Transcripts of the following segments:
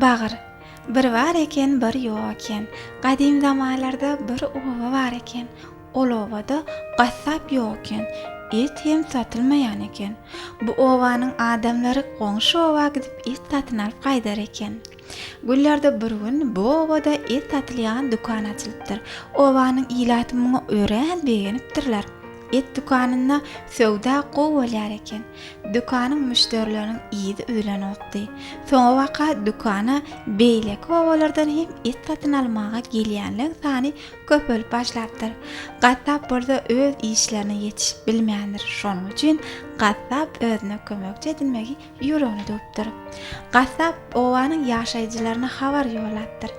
Bagyr. Bir bar eken, bir ýok eken. Gadym zamanlarda bir oba bar eken. Ol obada gassap ýok eken. Et hem satylmaýan eken. Bu obanyň adamlary goňşy oba gidip et satyn alyp gaýdar eken. Günlerde bir gün bu obada et satylýan dükan açylypdyr. Obanyň ilaty muňa örän begenipdirler. Et dükanynda söwda gowy bolýar eken. Dükanyň müşderileriniň yzy üzlenokdy. Soňabaka dükana beýleki obalardan hem et satyn almaga gelýänleň sany köpelip başlapdyr. Gassap bolsa öz işlerine ýetişip bilmändir. Şonuň üçin gassap özüne kömekçi edinmegi Ýüregini düwüpdir. Gassap obanyň ýaşaýjylaryna habar ýollapdyr.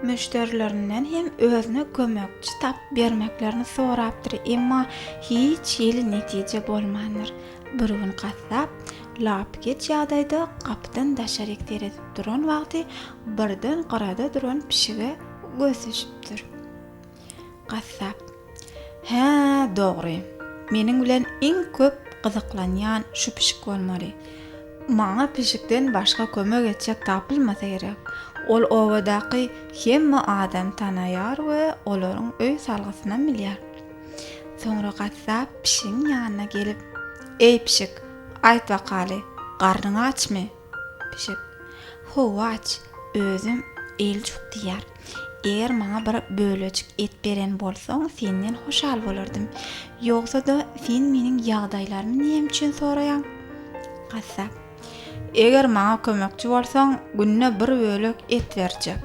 Müşderilerinden hem özüne kömekçi tapyp bermeklerini sorapdyr, emma hiç hili netije bolmandyr. Bir gün gassap lapykeç ýagdaýda gapydan daşaryk seredip duran wagty birden gyrada duran pişige göz düşüpdir. Gassap. Hä, dogry. Meniň bilen iň köp gyzyklanýan şu pişik bolmaly. Maňa pişikden başga kömek etjek tapylmasa gerek. Ol obadaky hemme adamy tanaýar we olaryň öý salgysynam bilýär. Soňra gassap pişigiň ýanyna gelip. Eý, pişik, aýt bakaly, garnyň açmy? Pişik. Howaç, özüm eljuk diýýär. Eger maňa bir bölejik et beren bolsaň, senden hoşal bolardym. Ýogsa-da, sen meniň ýagdaýlarymy näme üçin soraýaň? Gassap. Eger maňa kömekçi bolsaň, günde bir bölek et berjek.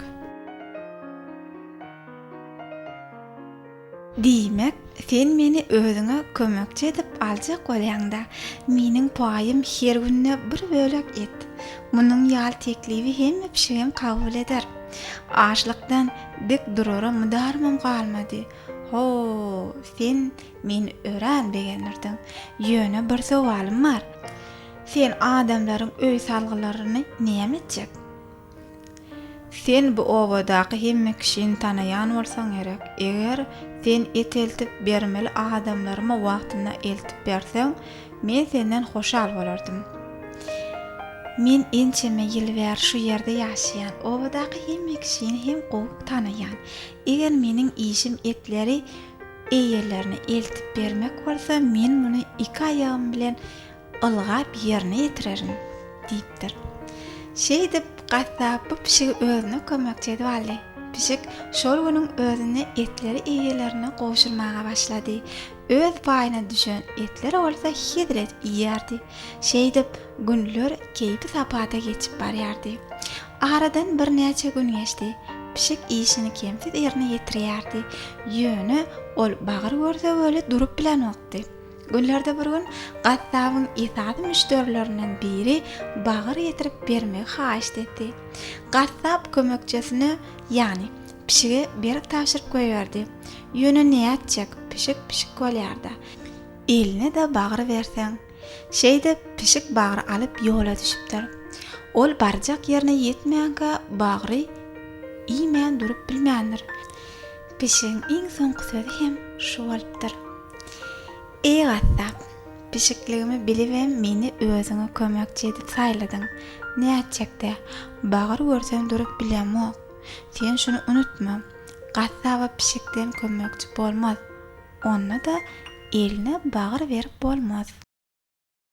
Diýmek, sen meni özüňe kömekçi edip aljak bolýaň-da, meniň paýym her günde bir bölek et. Munuň ýaly teklibi hemme pişigem kabul eder. Açlykdan dik durara mudarymym galmady. Ho, sen meni örän begendirdiň. Ýöne bir sowalym bar. Sen adamlaryň öý salgylaryny näme etjek? Sen bu obadaky hemme kişini tanaýan bolsaň gerek. Eger sen et eltip bermeli adamlarymy wagtynda eltip berseň, men senden hoşal bolardym. Men ençeme ýyl bäri şu ýerde ýaşaýan. Obadaky hemme kişini hem gowy tanaýan. Eger meniň işim etleri eýelerine eltip bermek bolsa, men muny iki aýagym bilen ylgap ýerine ýetirerin, diýipdir. Şeýdip, gassap bu pişigi özüne kömekçi edip aldy. Pişik şol günüň özünde etleri eýelerine gowşurmaga başlady. Öz paýyna düşen etleri bolsa hezret iýýärdi. Şeýdip, günler keýpi-sapata geçip barýardy. Aradan birnäçe gün geçdi. Pişik işini kemsiz ýerine ýetirýärdi. Ýöne ol bagyr görse weli durup bilenokdy. Günlerde bir gün gassabyň esasy müşderilerinden biri bagyr getirip bermegi haýyşt etdi. Gassap kömekçisine, ýagny pişige berip tabşyryp goýberdi. Ýöne nätjek, pişik pişik bolýar-da. Eline-de bagyr berseň. Şeýdip, pişik bagry alyp ýola düşüpdir. Ol barjak ýerine ýetmänkä bagry iýmän durup bilmändir. Pişigiň iň soňky sözi hem şu bolupdyr. Eý gassap, pişikligimi bilibem meni özüňe kömekçi edip saýladyň. Nätjek-dä, bagyr görsem durup bilýämok. Sen şuny unutma, gassaba pişikden kömekçi bolmaz, onda-da eline bagyr berip bolmaz.